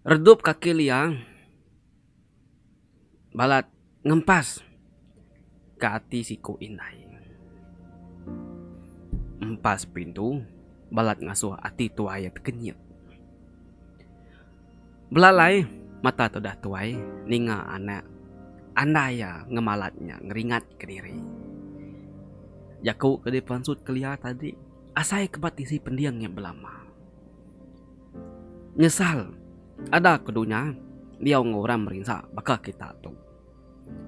Redup kaki liang balat ngempas ka ati siku indai. Empas pintu balat ngasuh ati tuai iya tekenyit. Belalai mata tudah tuai ninga anak andai iya ngemalat nya ngeringat ke diri. Jaku ke dipensut kelia tadi asai ke ba tisi pending iya belama. Nyesal ada ke dunya diau enggau orang merinsa baka kita tu.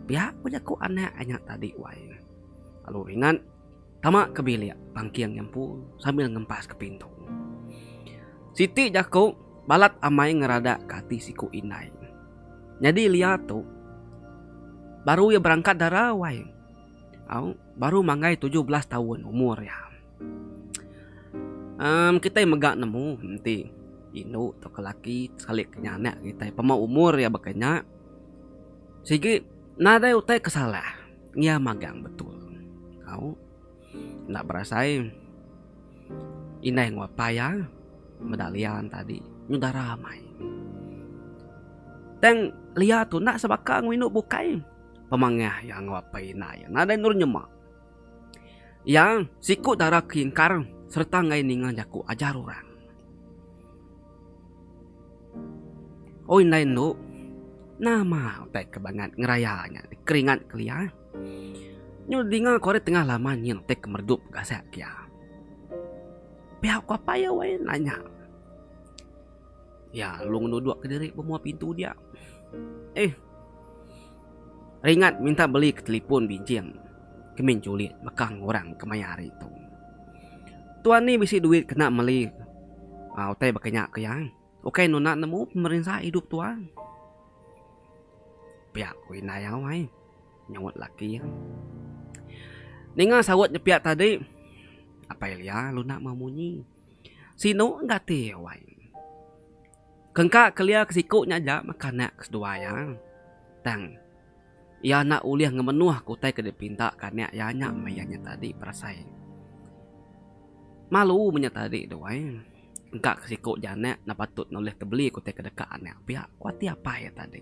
Pia ku jaku anak ai nya tadi wai. Lalu ringat tama ke bilik pangking iya empu sambil ngempas ke pintu. Siti jaku balat amai ngeradak ke ati siku indai. Nyadi lia tu baru iya berangkat dara wai au baru manggai tujuh belas taun umur iya. Uhm kitai mega nemu enti indu tauka laki salik inya anak kitai pemau umur iya baka inya sigi nadai utai ke salah iya magang betul tau enda berasai indai enggau apai iya meda Lia tadi nyuda ramai. Tang Lia tu enda sebaka enggau indu bukai pemangah iya enggau apai ina iya nadai endur nyema. Iya siku dara ke ingkar sereta enggai ninga jaku ajar orang. O indai endo, nama utai ke bangat ngeraya nya dikeringat kelia? Nyau dinga ku ari tengah laman nyin utai ke meredup gasak ke iya. Pia ku apai iya wai nanya. Iya lalu ngenuduk ke diri bemua pintu dia. Eh. Ringat minta beli ke telipun binching ke min chulik bekang orang kemaya hari tu. Tuan ni bisi duit kena meli aaa utai baka nya ke iya. Ukai nuna nemu pemerinsa idup tuan. Pia ku indai iya wai nyaut laki iya. Ninga saut nya pia tadi Apai Lia luna meh munyi. Sinu gati iya wai. Kengka kelia ke siku nya aja maka anak ke seduai iya. Tang, iya enda ulih ngemenuhka utai ke dipinta ke anak iya nya meh iya nya tadi berasai. Malu meh nya tadi duai. Engka ke siku ja anak enda patut nulih tebeli ke utai ke deka anak pia, ku ati apai iya tadi.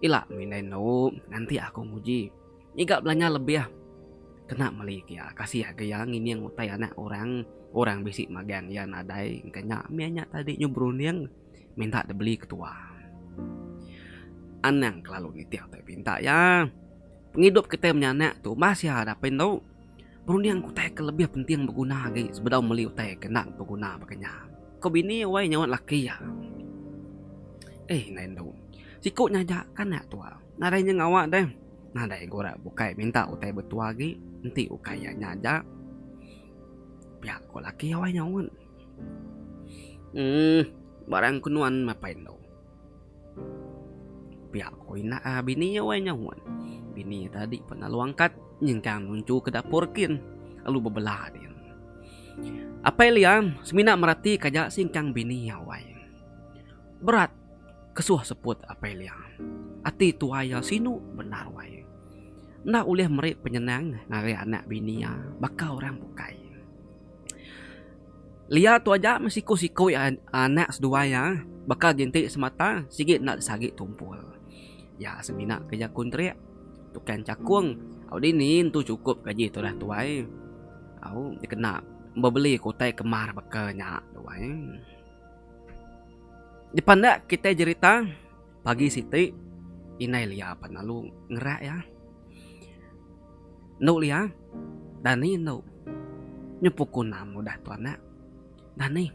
Ila mih indai enda u nganti aku nguji. Ngiga belanja lebih kena meli kia kasih agi iya ngining utai anak orang orang bisi magang iya nadai engka nya mih nya tadi nyu berunding minta dibeli ketua. Anang kelalu nitih utai pinta iya. Pengidup kitai menyanak tu bah sia dapin tu. Perunding utai ke lebih penting beguna agi sebedau meli utai ke enda beguna baka nya. Ko bini wai nyaunt laki iya. Eh indai endu. Siku nya aja ka enda tua. Nadai nya ngawa deh. Nadai ku rak bukai minta utai betua agi enti ukai iya nya aja. Pia ko laki iya wai nyaunt. Uhh barang ke nuan mapai endu. Pia ko ina a bini iya wai nyau wan bini iya tadi pan lalu angkat nyengkang nunchu ke dapur kin lalu bebela din. Apai Liam semina merati ka ja sengkang bini iya wai. Berat kesuh seput Apai Liam. Ati tuai iya sinu bendar wai. Enda ulih meri penyenang ngagai anak bini iya baka orang bukai. Lia tu aja meh siku-siku iya anak seduai iya baka ginti semata sigi enda disagi tumpul. Iya semina kerja kontrak tukang chakung au dini entu chukup gaji tudah tuai au dikena bebeli ke utai kemar baka nya tu ai. Dipandek kitai jerita. Pagi siti, indai Lia apat lalu ngerak iya. Endo Lia, dani endo? Nyu pukul enam udah tu anak. Dani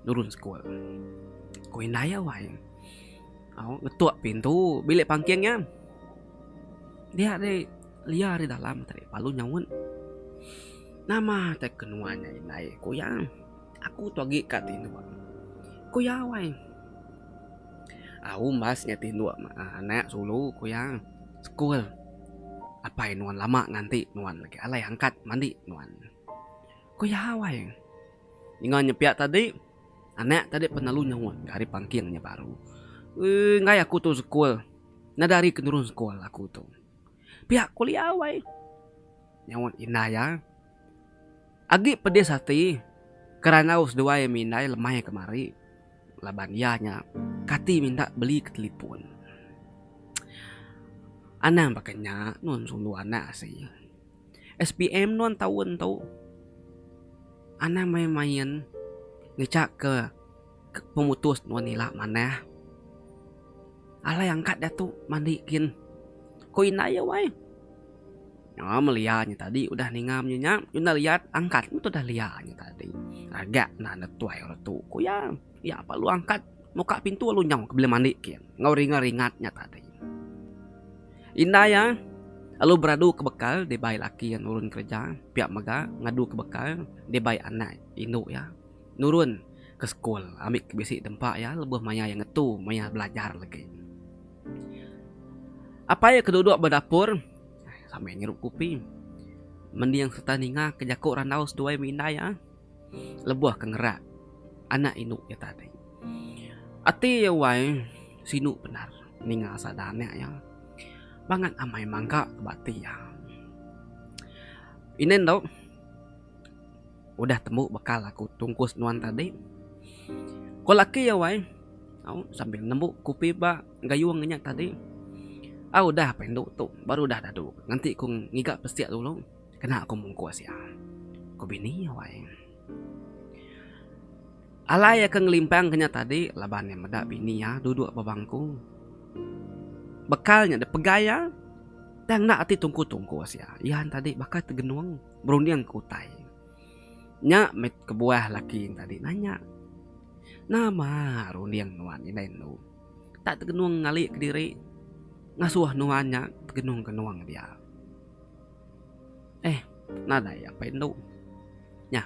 nurun sekul. Ku indai iya wai. Au ngetuk pintu bilik pangking iya. Dia ari Lia ari dalam tadi lalu nyaut. Nama te ke nuan nya indai? ku iya. Aku tu agi ka tinduk. Ku iya awai. Au umbas nya tinduk anak sulu ku iya. Sekul. Apai nuan lama nganti nuan agi alai angkat mandi nuan. Ku iya awai. Ninga nya pia tadi anak tadi pun lalu nyaut ka ari pangking nya baru. Ui enggai aku tu sekul. Nadai ari ke nurun sekul aku tu. Pia ku iya awai. Nyaut indai iya. Agi pedis ati ke randau seduai ami indai lemai kemari laban iya nya kati minta beli ke telefon. Anang baka nya nuan sulu anak asi. SPM nuan taun tu anang main main ngejak ke. Ke pemutus nuan ila manah. Alai angkat diatu mandi gin. Ko indai iya wai. Nyau melia nya tadi udah ninga nya nya enda riat angkat meh udah lia nya tadi. Ragak enda enda tuai orang tu ku iya. Iya pa lu angkat muka pintu lu nyau ke bila mandi gin enggau ringa ringat nya tadi. Indai iya lalu beradu ke bekal dibai laki iya nurun kereja pia mega ngadu ke bekal dibai anak indu iya. nurun ke sekul ambi ke bisi tempa iya lebuh maya iya ngetu maya belajar legi. Apai iya ke duduk ba dapur sambil ngirup kopi mending sereta ninga ke jaku randau seduai meh indai iya lebuh ke ngerak anak indu iya tadi. Ati iya wai sinu bendar ninga sada anak iya bangat amai mangga ba ati iya. Inen tu. udah tembu bekal aku tungkus nuan tadi. Ko laki iya wai au sambil nembu kupi ba gayung inya tadi. Au udah apai endu tu baru udah dadu ngenti ku ngiga pesik dulu kena ku mungkus iya, ko bini iya wai. Alai iya ke ngelimpang ke nya tadi laban iya meda bini iya duduk ba bangku. Bekal nya dipegai iya tang enda ati tungku tungkus iya. Iya tadi baka tegenung. berunding ke utai. Nya meh kebuah laki ne tadi nanya, Nama runding nuan indai enu tak tegenung ngalika diri ngasuh nuan nya tegenung genung dia? Eh, nadai apai enu. Nya,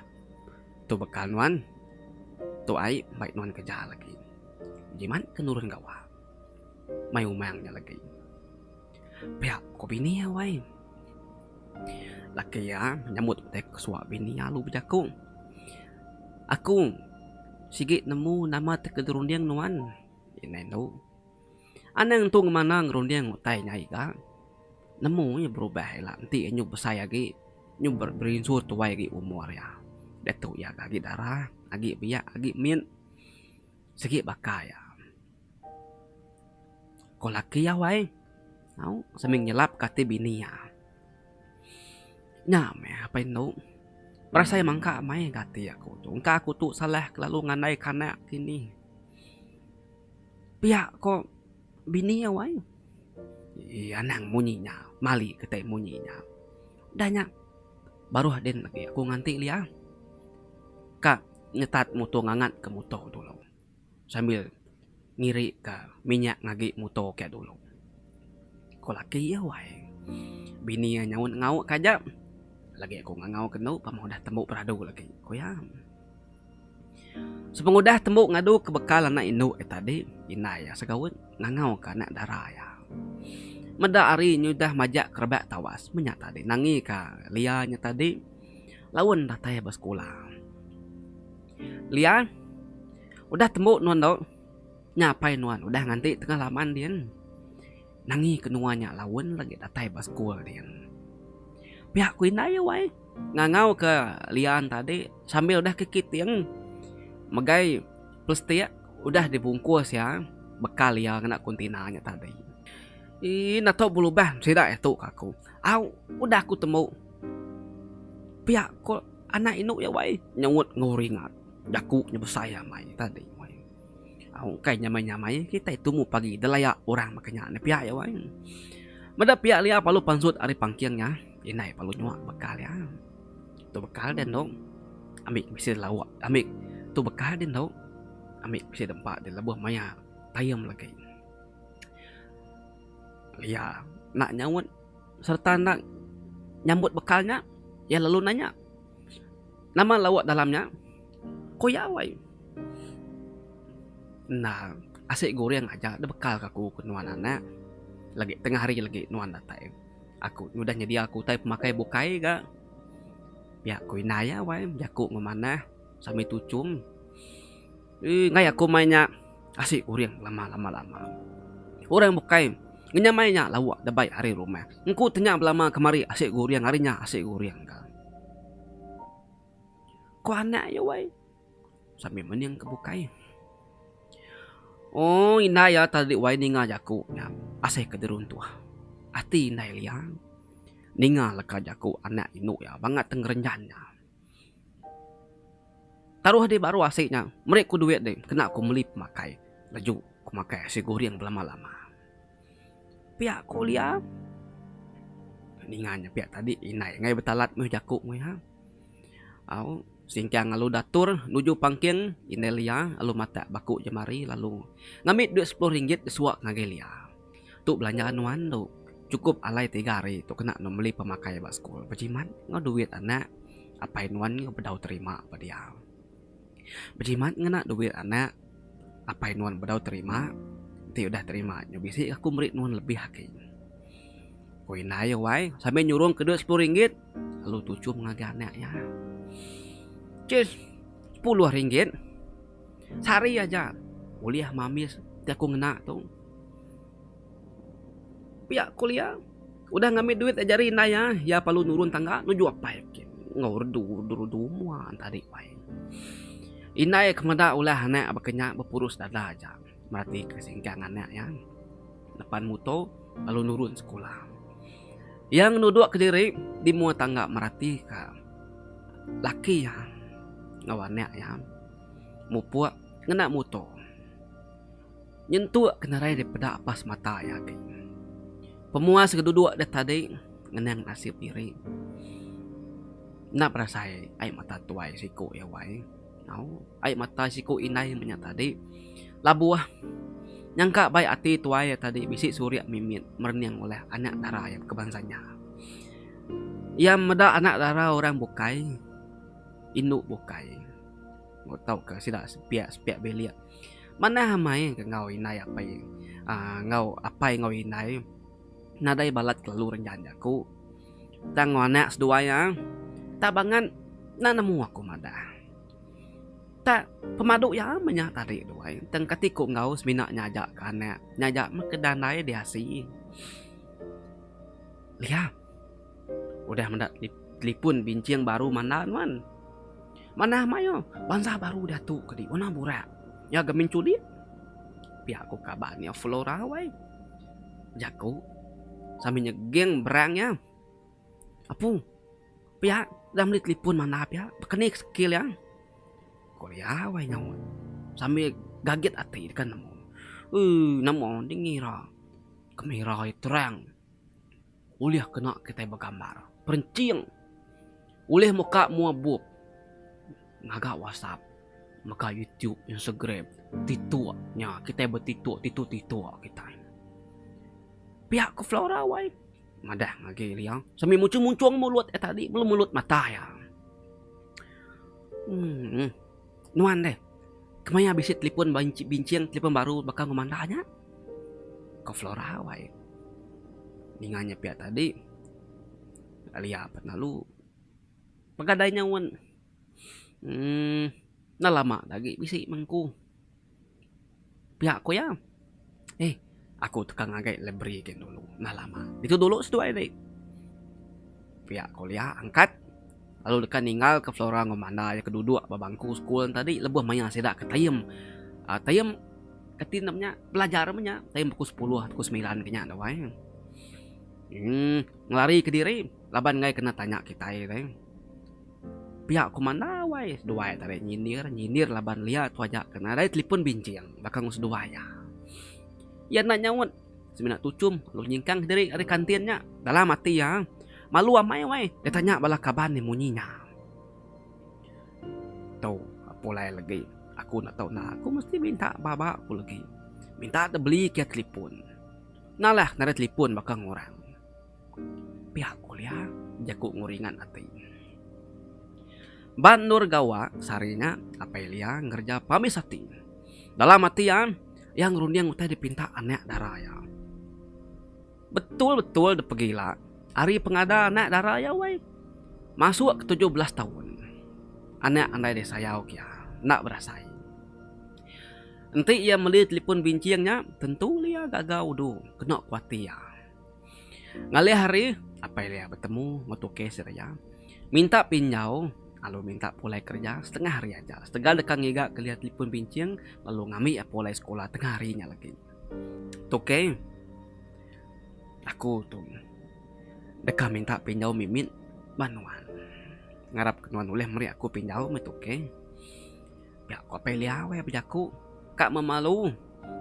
tu baka nuan, tu ai mbai nuan kereja lagi. Jimat ke nurun gawa mai umang nya lagi. Pia ku bini iya wai. Laki iya nyambut utai kesuwa bini iya lalu bejaku, Aku sigi nemu nama ti ke dirunding nuan. Indai antu. Anang tu ngemana ngerunding utai nya iga. Nemu iya berubah ila enti iya nyau besai agi, nyu berinsu tuai agi umur iya. Diatu iya agi darah, agi biak, agi min. Sigi baka iya. Ko laki iya wai. Au sambil nyelap ke ati bini iya. Nya meh apai enu. Berasa iya mangka meh ke ati aku tu. Engka aku tu salah kelalu ngandai ke anak ke ini. Pia ko bini iya wai. Eii anang munyi nya. Mali kitai munyi nya. Udah nya baruh din lagi aku nganti lya ka nyetat muto ngangat ke muto dulu. sambil ngirika minyak ngagi muto ke dulu. Ko laki iya wai. Bini iya nyaut ngau ka aja lagi aku ngangau ke enu pemau udah tembu peradu lagi ku iya. Sepengudah tembu ngadu ke bekal anak indu iya tadi indai iya segaut ngangau ka anak dara iya. Meda hari inya udah majak ke rebak tawas meh nya tadi nangi ka lia nya tadi laun datai ba sekula. Lia, Udah tembu nuan tu. Nya apai nuan udah nganti tengah laman din. Nangi ke nuan nya laun lagi datai ba sekul din. Pia ku indai iya wai. Ngangau ke Lian tadi sambil udah ke kiting megai plastik udah di bungkus iya bekal iya ngena kontainer nya tadi. Ii, enda tu belubang sida iya tu ka aku. Au, udah aku tembu. Pia ko anak inu iya wai nyaut enggau ringat jaku nya besai amai tadi wai. Au engkai nyamai nyamai kitai tumu pagi delaya orang baka nya ne pia iya wai. Meda pia lia palu pansut ari pangking nya indai palu nyua bekal iya. Tu bekal dia endo ami ke bisi lawa ami tu bekal dia endo ami ke bisi dempa dia lebuh maya taim legi. Lia enda nyaut. sereta enda nyambut bekal nya, iya lalu nanya, Nama lauk dalam nya? Ku iya alai, Enda, asi guring aja da bekal ke aku ku nuan anak. Lagi tengah hari lagi nuan datai. Aku udah nyedia aku utai pemakai bukai ga. Pia ku indai iya alai, jaku enggau manah sambil tuchum. Enggai aku mai nya asi uring lama lama lama. Orang bukai ngenyamai nya lauk debai ari rumah. Engku tenya belama kemari asi guring ari nya asi guring ka. Ko anak iya wai sambil mening ke bukai. Ooh indai iya tadi wai ninga jaku nya asai ke jeruntuh. Ati indai liang ninga leka jaku anak indu iya bangat tengerenjan nya. Taruh deh baru asik nya. Meri ku duit deh kena aku meli pemakai. Leju ku makai asi goreng belama lama. Pia ku Olia ninga nya pia tadi indai ngai betalat meh jaku meh iya. Au singkang lalu dator nuju pangking indai Lia lalu matak baku jemari lalu ngambi duit sepuluh ringgit disuak ngagai Lia. Tu belanja nuan tu cukup alai tiga hari tu kena nuan beli pemakai ba sekul bejimat enggau duit anak apai nuan enggau bedau terima ba dia. Bejimat ngena duit anak apai nuan bedau terima enti udah terima nyu bisi ke aku meri nuan lebih agi. Ku indai wai sambil nyurung ke duit sepuluh ringgit lalu tuchum ngagai anak iya. Chis sepuluh ringgit Sehari aja ulih mamis ti aku ngena tu. Pia ku Lia, udah ngambi duit aja ari indai iya, iya perlu nurun tangga nuju apai ke enggau redu redu mua enti adik pai. Indai ke meda ulah anak baka nya bepurus dada aja. meratika singkang anak iya depan muto lalu nurun sekula. Iya ngenuduk kediri di mua tangga meratika laki iya enggau anak iya mupuk ngena muto nyentuk kenerai daripada apas mata iya agi. Pemuas ke duduk deh tadi ngenang nasib diri enda berasai ai mata tuai siku iya wai. Au, ai mata siku indai menya tadi. Labuh. Nyangka bai ati tuai iya tadi bisi surik mimit merening oleh anak dara iya ke bansa nya. Iya meda anak dara orang bukai, indu bukai. Moh tauka sida sepiak-sepiak bilik. Manah amai ke enggau indai apai. aaa enggau apai enggau indai. Nadai balat kelalu renjan jaku. Tang enggau anak seduai iya. Tak bangat enda nemu aku madah. Tak pemadu iya meh nya tadi duai. Tang kati ku enggau semina nyaja ke anak. Nyaja meh ke dandai diasi. Lia. Udah meda telipun binching baru mandal nuan. Manah mayuh bansa baru diatu ke di. Warna burak. Iya gemin chuli. Pia ku kaban iya Flora wai. Jaku sambil nyeging berang iya. Apung, pia udah meli telefon manah pia. Bekeni ke sekil iya. Ku iya wai nyaut sambil gagit ati deka nemu. Ui, nemu dingih ira. Kamera iya terang. Ulih kena kitai begambar perenching ulih muka mua bup ngaga whatsapp mega youtube instagram tiktok nya kitai betiktok tiktok tiktok kitai. Pia ku flora wai madah agi liang semi munchung munchung mulut iya tadi melu mulut mata iya. Emm. Nuan deh, kemaya bisi telipon ba binching telipon baru baka enggau manda nya? Ko Flora awai. Ninga nya pia tadi, Alia pat lalu. Pegadai nya wen. Uhh enda lama agi bisi mengku. Pia ku iya. Hei, aku teka ngagai library gin dulu. Enda lama. Ditu dulu seduai ti. Pia ku iya angkat lalu deka ninggal ke Flora enggau Manda iya ke duduk ba bangku school tadi lebuh mayar sida ke time aaa time reti nya menya belajar menya time pukul sepuluh atau pukul semilan ke nya duai. Emm ngelari kediri laban enggai kena tanya kitai tadi. Pia ku Mandau ai, seduai tarik nyindir, nyindir laban Lia tuaja ke nadai telipon binching baka enggau seduai iya. Iya enda nyaut, semina tuchum lalu nyingkang kediri ari kantin nya. Dalam ati iya, malu amai wai iya tanya bala kaban iya munyi nya. Tu, pulai legi aku enda tau enda, aku mesti minta baba ku legi. Minta dibeli kia telipon. Nalah nadai telipon baka enggau orang. Pia kulia, jaku nguringat ati. Ba endur gawa sehari nya, apai Lia ngereja pabis ati. Dalam ati iya, iya ngerunding utai dipinta anak dara iya. Betul-betul dipegi ila ari pengada anak dara iya wei. Masuk ke tujuh belas taun, anak andai disayau ke iya enda berasai. Enti iya meli telefon binching nya, tentu Lia gaga udu kena ku ati iya. Ngalih hari, Apai Lia betemu enggau Tukey Siria minta pinjau lalu minta pulai kereja setengah hari aja setegal deka ngiga ke Lia telefon binching lalu ngambi iya pulai sekula tengah hari nya lagi. Tukey, Aku tu deka minta pinjau mimit ba nuan. Ngarap nuan ulih meri aku pinjau meh Tukey. Nya ko Apai Liau ai bejaku ka memalu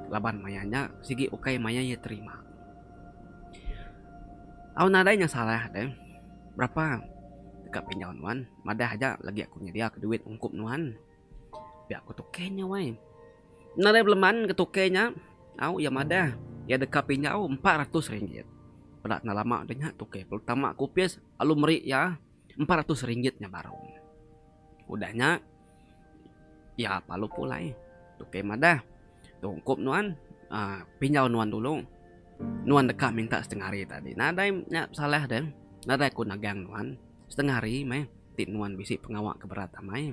laban maya nya sigi ukai maya iya terima. Au nadai nya salah deh berapa deka pinjau nuan madah aja lagi aku nyedia ka duit ungkup nuan pia ko Tuke nya wai. Nadai beleman ke Tuke nya au iya madah iya deka pinjau empat ratus ringgit. Peda enda lama deh nya Tuke perlu tama ka opis lalu meri iya empat ratus ringgit nya baru. Udah nya. Iya palu pulai tukey madah. Tungkup nuan aaa pinjau nuan dulu nuan deka minta setengah hari tadi. Nadai nya pesalah deh nadai ku nagang nuan setengah hari meh ti nuan bisi pengawa ke berat amai.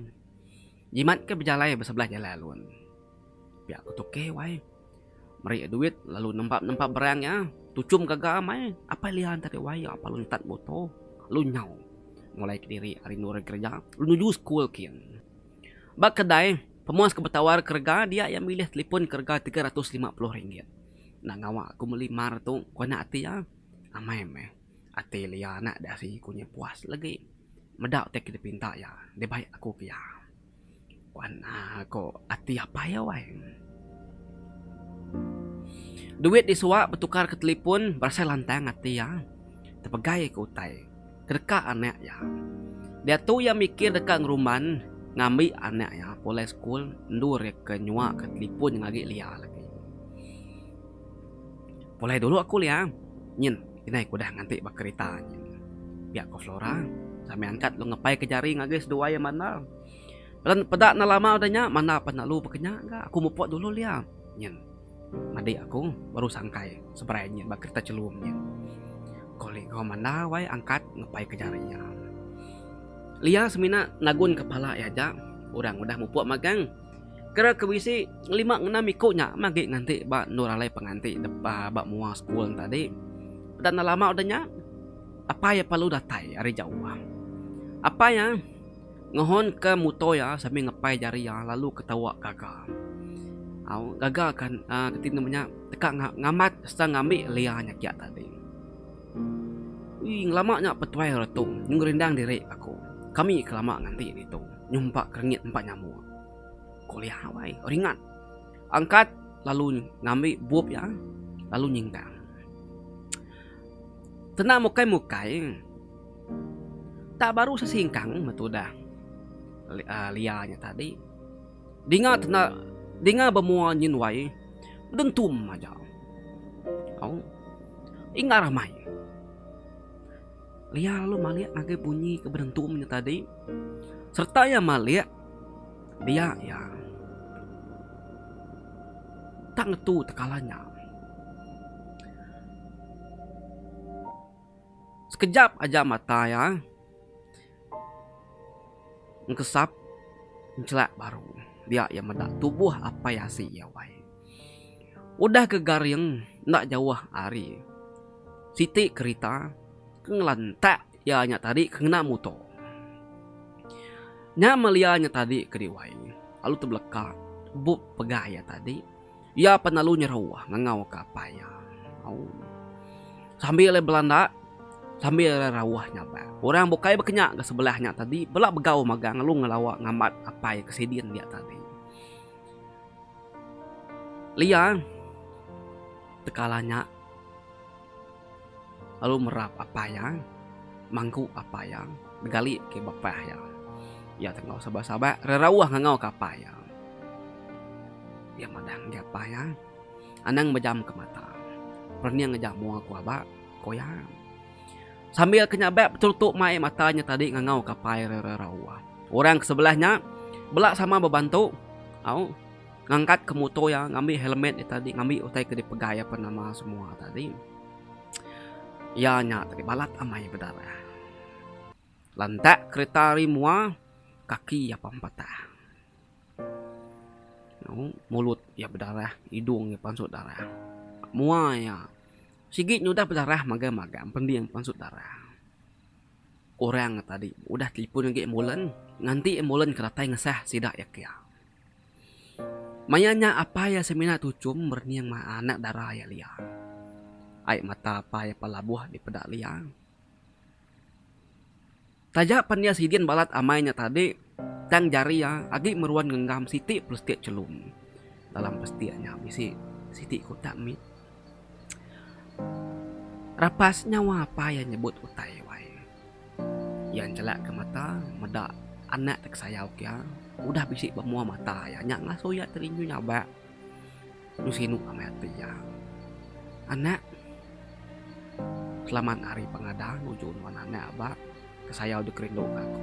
Jimat ke bejalai besebelah jalai alun pia ku tukey wai. Meri duit lalu nempa-nempa berang iya. Tuchum gaga mai apai lian ti ari wai iya apai luntat muto lalu nyau mulai kediri ari endur ari kereja lalu nuju sekul kin. Ba kedai pemuas ke betawar kerega dia iya milih telipon ke rega tiga ratus lima puluh ringgit. Enda ngawa aku meli mar tu ku anak ati iya. Amai meh ati lia anak dasi ku nya puas legi meda utai ke dipinta iya. Dibai aku ke iya. Wan aa ko ati apai iya wai. Duit di suwa betukar ke telepon berasai lantang ati iya. Tepegai ke utai ke deka anak iya. Diatu iya mikir deka ngerumban ngambi anak iya pulai sekul endur iya ke nyuwa ke telepon nyengagi liya lagi. Pulai dulu aku Liang. Nyin, inai ku udah nganti ba kerita nyin. Pia ku Flora sambil angkat lalu ngepai ke jari ngagai seduai iya mandal. Pelan peda enda lama udah nya mandal pan lalu bekenya ga. Aku mupuk dulu Liang. Nyin. Madi aku baru sangkai seberai nyin ba kerita chelum nyin. Ko Ligo mandal wai angkat ngepai ke jari iya. Liang semina ngagun kepala iya aja orang udah mupuk magang. Kira ke bisi lima ngena miku nya meh agi nganti ba endur alai penganti deba ba mua school tadi. Peda enda lama udah nya apai iya perlu datai ari jauh. Apai iya ngehon ke muto iya sambil ngepai jari iya lalu ketawa gaga. Au gaga kan aaa keti nama nya teka ngambat serta ngambi lea nya kiya tadi. Ui, ngelama nya petuai retu nyu ngerindang diri aku. Kami ke lama nganti ditu nyumpak kerengit empat nyamuk. Kuliah awai ringat. Angkat lalu ngambi bup iya lalu nyingkang. Tenang mukai mukai. Tak baru sesingkang metu dah lia nya tadi. Dinga tenda dinga bemua nyin wai dentum aja. Au. Inga ramai. Lia lalu malik ngagai bunyi ke bedentum nya tadi serta iya malik dia iya tak ngetu tekala nya. Sekejap aja mata iya. Engkesap encelak baru dia iya meda tubuh apai asi iya wai. Udah ke garing enda jauh ari siti kerita ke ngelantak iya nya tadi ke ngena muto. Nya melia nya tadi kedi wai lalu tebeleka bup pega iya tadi. Iya pan lalu nyeruah ngangau ka apai iya. Au. Sambil iya belanda, sambil iya rauah nyabak. Orang bukai bekenya ga sebelah nya tadi bela begau magang lalu ngelawa ngambat apai ke sidin dia tadi. Liang tekala nya. lalu merap apai iya, mangku apai iya, begali ke bapa iya. Iya tu enggau sabar-sabar rerauh ngangau ke apai iya. Iya madah ngagai apai iya, anang bejam ke mata, perening aja mua aku aba, ku iya. Sambil ke nyabak beterutuk mai mata nya tadi ngangau ke apai rerauh. Orang ke sebelah nya bela sama bebantu, au. ngangkat ke muto iya ngambi helmet iya tadi ngambi utai ke dipegai iya apan nama semua tadi iya nya tadi balat amai peda iya lantak kereta ari mua kaki iya apan patah mulut iya bedarah hidung iya pansut darah mua iya sigi nyudah bedarah magang magang pending pansut darah orang tadi udah telefon agi ambulans nganti ambulans ke datai ngesah sida iya kia. Maya nya apai iya semina tuchum berening maa anak dara iya Lia. Ai mata apai iya pelabuh dipeda Lia. Taja pen iya sidin balat amai nya tadi, tang jari iya agi meruan ngenggam siti plastik chelum. Dalam plastik nya bisi siti kutak mit. Rapas nyawa apai iya nyebut utai wai. Iya njelakka mata meda anak ti kesayau kiya udah bisi ba mua mata iya. Nya ngasuh iya ti rindu nyabak dulu sinu amai ati iya. Anak, selamat hari pengadah nuju nuan anak aba kesayau deka rinduka aku.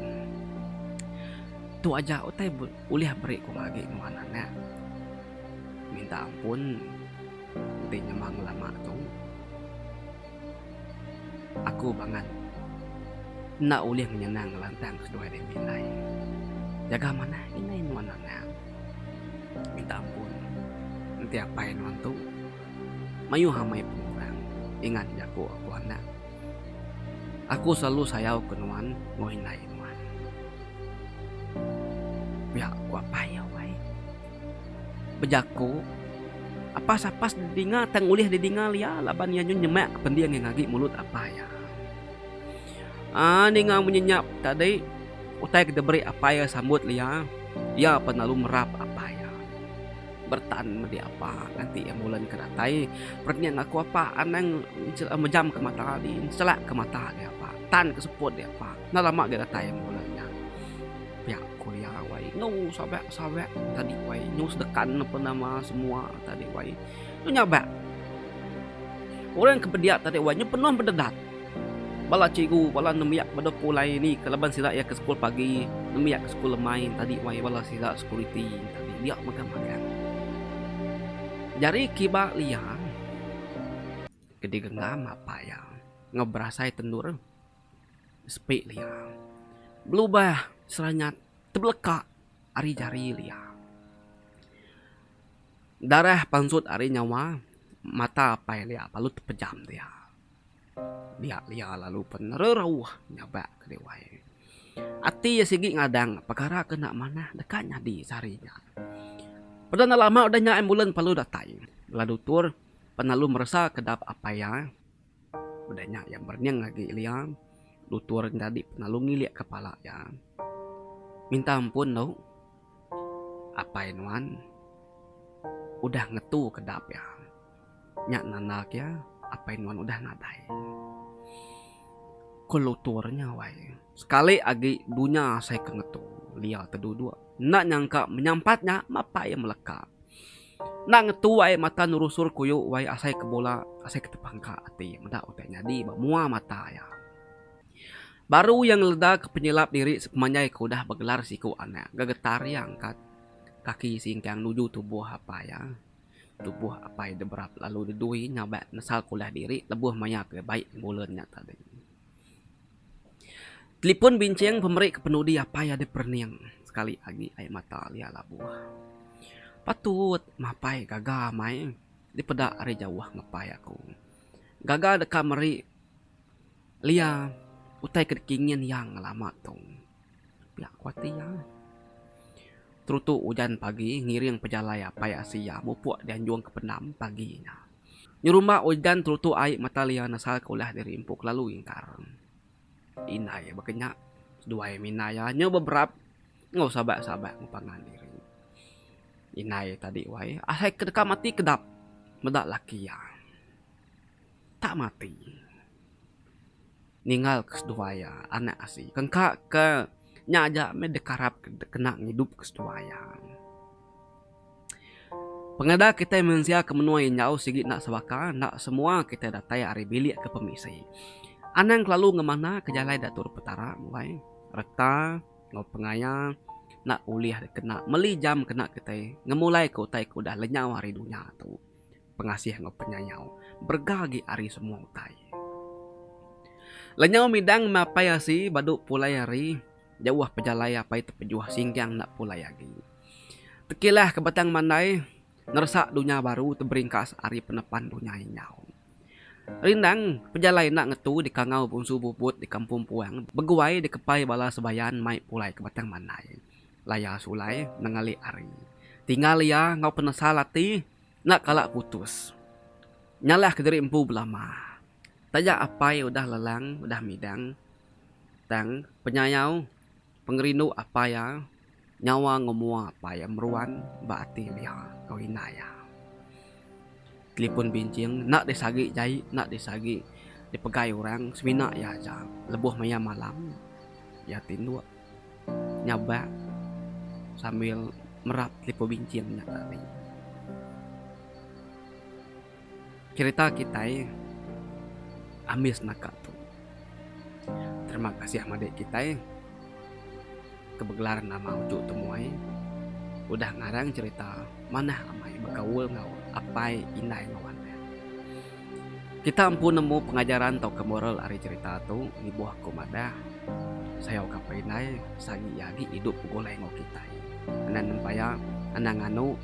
Tu aja utai ulih meri ku agi nuan anak. Minta ampun enti nyema ngelama tu. Aku bangat enda ulih ngenyenang ngelantang keseduai diri indai. Jaga manah indai nuan anang. Minta ampun enti apai nuan tu mayuh amai pengurang ingat jaku aku anak. Aku selalu sayauka nuan enggau indai nuan. Pia ku apai iya wai. bejaku, Apas-apas didinga tang ulih didinga lya laban iya nyun nyemak kepending ngagi mulut Apai iya. Aa ninga munyi nya tadi utai ke diberi Apai iya sambut lya, iya pan lalu merap Apai iya. Bertan medi Apa nganti iya mulen ke datai, Perenging aku Apa anang mejam ke mata di selak ke mata di Apa, tan ke seput di Apa. Enda lama ga datai iya mulen nya. Pia kuliah wai nyu sabak sabak tadi wai nyu sedekan ape nama semua tadi wai nyu nyabak orang ke pediak tadi wai nyu penuh bededat bala cikgu bala nembiak beda ku alai ni ke laban sida iya ke sekul pagi nembiak ke sekul lemai tadi wai bala sida security tadi dia mega magang jari kiba liang ke digenggam apai iya enggau berasai tendur. Sepi Lia. Belubah seranyat tebeleka ari jari Lia. Darah pansut ari nyawa mata apai Lia lalu tepejam dia. Dia Lia lalu pen nererauh nyabak ke dewai. Ati iya sigi ngadang pekara ke enda manah deka nyadi sehari nya. Peda enda lama udah nya ambulans lalu datai. Bala dutur pen lalu meresa kedap apai iya. Udah nya iya merenyeng agi Elia nutur nyadi pengalu ngilik kepala iya. Minta ampun tu, Apai nuan udah ngetuka dap iya. Nya nandak iya Apai nuan udah nadai. Ku lutur nya wai, sekali agi dunya sai ke ngetu Elia te duduk. Enda nyangka menyampat nya, mapa iya meleka. Endang ngetuai mata nerusur kuyu wai asai ke bola asai ke tepangka ati meda utai nyadi ba mua mata iya. Baru iya ngeledaka penyelap diri sepemanjai ke udah begelar siku anak ngaga tari angkat kaki singkang nuju tubuh apai iya. Tubuh apai dep berap lalu nedui nya ba nesal ke ulah diri lebuh maya ke baik ngebulen nya tadi. Telipun binching pemeri ke penudi apai adi perening sekali agi ai mata alia labuh. Patut mapai gaga mai dipeda ari jauh ngepai aku. Gaga deka meri alia utai ke dikingin iya ngelama tu. Pia ku ati iya. Terutu ujan pagi ngiring pejalai apai asi iya mupuk dianjung ke pendam pagi nya. Nyerumba ujan terutu ai metal iya nasa ke ulah diri empu kelalu ingkar. Indai baka nya seduai mina iya nyau beberap enggau sabat-sabat enggau pangan diri. Indai tadi wai asai ke deka mati kedap meda laki iya tak mati. ninggal ke seduai iya anak asi tengka ke nya aja meh dep karap dep kena ngidup ke seduai iya. Pengeda kitai mensia ke menua enjau sigi enda sebaka enda semua kitai datai ari bilik ke pemisi. Anang kelalu ngemana ke jalai da turun petara mbai reta enggau pengaya enda ulih dep kena meli jam kena kitai ngemulai ke utai ke udah lenyau ari dunya tu. pengasih enggau penyayau berega agi ari semua utai. Lenyau midang mapai asi badu pulai ari jauh pejalai apai tepejuh singgang enda pulai agi. Tekilah ke batang mandai neresa dunya baru teberingkas ari penepan dunya inyau. Rindang pejalai enda ngetu di kangau Bunsu Bubut di Kampung Puang beguai di kepai bala sebayan mai pulai ke batang mandai. Laya sulai nengalik ari. Tinggal iya enggau penesal ati. Enda kala putus. Nyalah ke diri empu belama. Taja apai udah lelang udah midang tang penyayau pengerindu apai iya nyawa enggau mua apai iya meruan ba ati dia enggau indai iya. Telipon binching enda deh sagi jai enda deh sagi dipegai orang semina iya aja lebuh maya malam iya ti endur. nyabak sambil merap telipon binching nya tadi. Cherita kitai ambis naka tu. Terima kasih madik kitai ke begelar nama Uchu Temuai udah ngarang cherita manah amai bekaul enggau apai, indai enggau anak. Kita empu nemu pengajaran tauka moral ari cherita tu, ibuh aku madah, sayau ka peri indai sagi iya agi idup begulai enggau kitai. Anang nempaya, anang nganu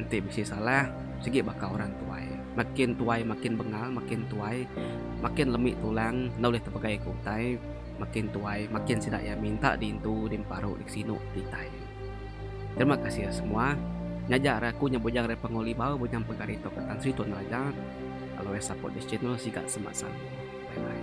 enti bisi salah sigi baka orang tuai. Makin tuai makin bengal, makin tuai makin lemi tulang enda ulih tepegai ke utai, makin tuai makin sida iya minta di intu, di emparu, di kesinu kitai. Terima kasih ya semua. Nyaja hari aku nya bujang dari Pengoly bau bujang pegari tu ke Tan Sri Tun Raja. Always support this channel siga semak selalu. Bye bye.